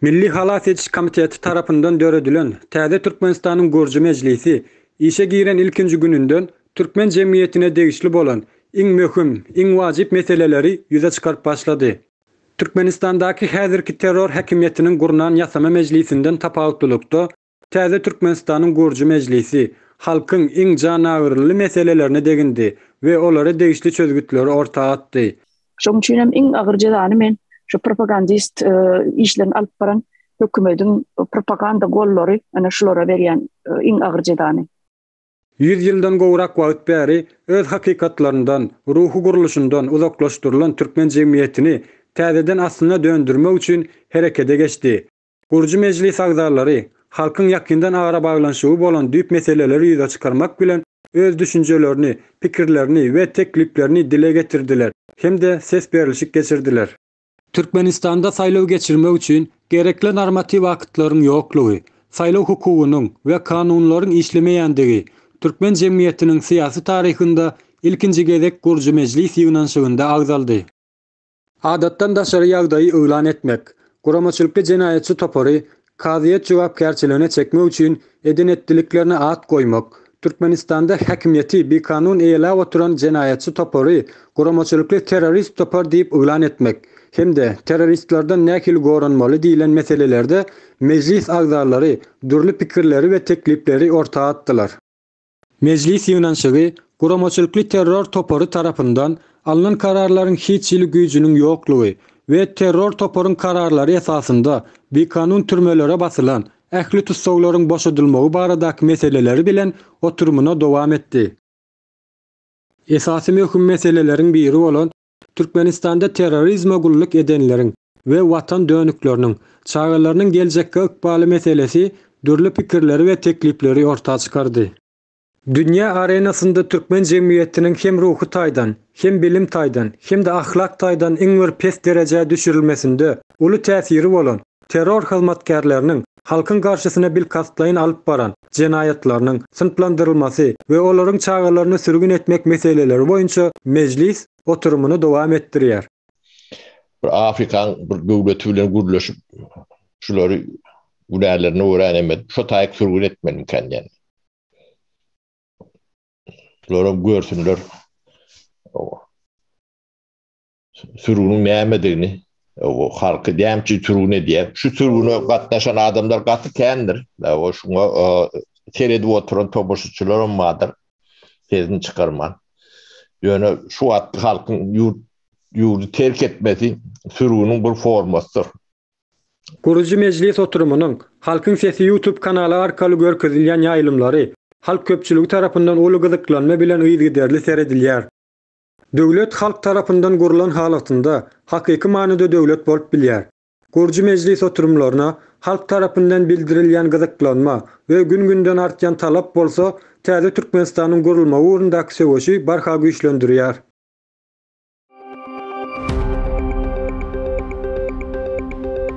Milli halas ediş komiteti tarapyndan döredilen täze Türkmenistanyň gürji mejlisi işe giren ilkinji gününden türkmen jemgyýetine degişli bolan iň möhüm, iň wajyp meseleleri ýüze çykaryp başlady. Türkmenistandaky häzirki terror häkimiýetiniň gurnan ýasama mejlisinden tapawutlylykda, Täze Türkmenistanyň gurujy mejlisi halkyň iň janagyryly meselelerine degindi we olara degişli çözgütleri orta atdy. Şoň üçin hem iň agyr jezany men şu propagandist işlerini alyp baran hökümediň propaganda gollary ana şulara berýän iň agyr jezany. Ýüz ýyldan gowrak wagt bäri öz hakykatlaryndan, ruhy gurluşyndan uzaklaşdyrylan türkmen jemgyýetini täzeden aslyna döndürmek üçin herekede geçdi. Gurujy mejlis agzalary halkyň ýakyndan arabaglanyşygy bolan düýp meseleleri ýüze çykarmak bilen, öz düşünjelerini, pikirlerini we tekliplerini dile getirdiler hem-de ses berlişik geçirdiler. Türkmenistanda saýlaw geçirmek üçin gerekli normatiw aktlaryň ýoklugy, saýlaw hukugynyň we kanunlaryň işlemeýändigi türkmen jemgyýetiniň syýasy taryhynda ilkinji gezek gurujy mejlis ýygnanyşygynda agzaldy. Adatdan daşary ýagdaýy yglan etmek, guramaçylykly jenaýatçy topary kazyýet jogapkärçiligine çekmek üçin eden-etdiliklerine at goýmak, Türkmenistanda häkimiýeti bikanun eýeläp oturan jenaýatçy topary guramaçylykly terrorist topar diýip yglan etmek hem-de terroristlerden nähili goranmaly diýlen meselelerde mejlis agzalary dürli pikirleri we teklipleri orta atdylar. Mejlis ýygnanyşygy guramaçylykly terror topary tarapyndan alnan kararlaryň hiç hili güýjüniň ýoklugy we terror toparyň kararlary esasynda bikanun türmelere basylan ähli tussaglaryň boşadylmagy baradaky meseleleri bilen oturymyna dowam etdi. Esasy möhüm meseleleriň biri bolan Türkmenistanda terrorizme gulluk edenleriň we watan dönükleriniň, çagalarynyň geljekki ykbaly meselesi dürli pikirleri we teklipleri orta çykardy. Dünýä arenasynda türkmen jemgyýetiniň hem ruhy taýdan, hem bilim taýdan, hem-de ahlak taýdan iň bir pes derejä düşürilmesinde uly täsiri bolan, terror hyzmatkärleriniň halkyň garşysyna bilkastlaýyn alyp baran jenaýatlarynyň synplandyrylmasy we olaryň çagalaryny sürgün etmek meseleleri boýunça mejlis oturymyny dowam etdirýär. Bir afrikan bir döwleti bilen gürleşip şulary günälerini öwränemedi. Şo taýyk sürgün etmelimikäň diýen. Şular hem görsünler. sürgüniň nämedigini, halky näme üçin sürgün edýär? Şu sürgüne gatnaşan adamlar gaty kändir. Dawa şuňa seredip oturan tomaşaçylaram bardyr. Sesini çykarman. Ýöne şu wagtky halkyň ýurt ýurdy terk etmesi sürgüniň bir formasydyr. Gurujy mejlis oturymynyň, Halkyň sesi YouTube kanaly arkaly görkezilýän ýaýlymlary halk köpçüligi tarapyndan uly gyzyklanma bilen yzygiderli seredilýär. Döwlet halk tarapyndan gurlan halatynda hakyky manyda döwlet bolup bilýär. Gurujy mejlis oturymlaryna halk tarapyndan bildirilýän gyzyklanma we gün-günden artýan talap bolsa täze Türkmenistanyň gurulmagy ugrundaky söweşi barha güýçlendirýär.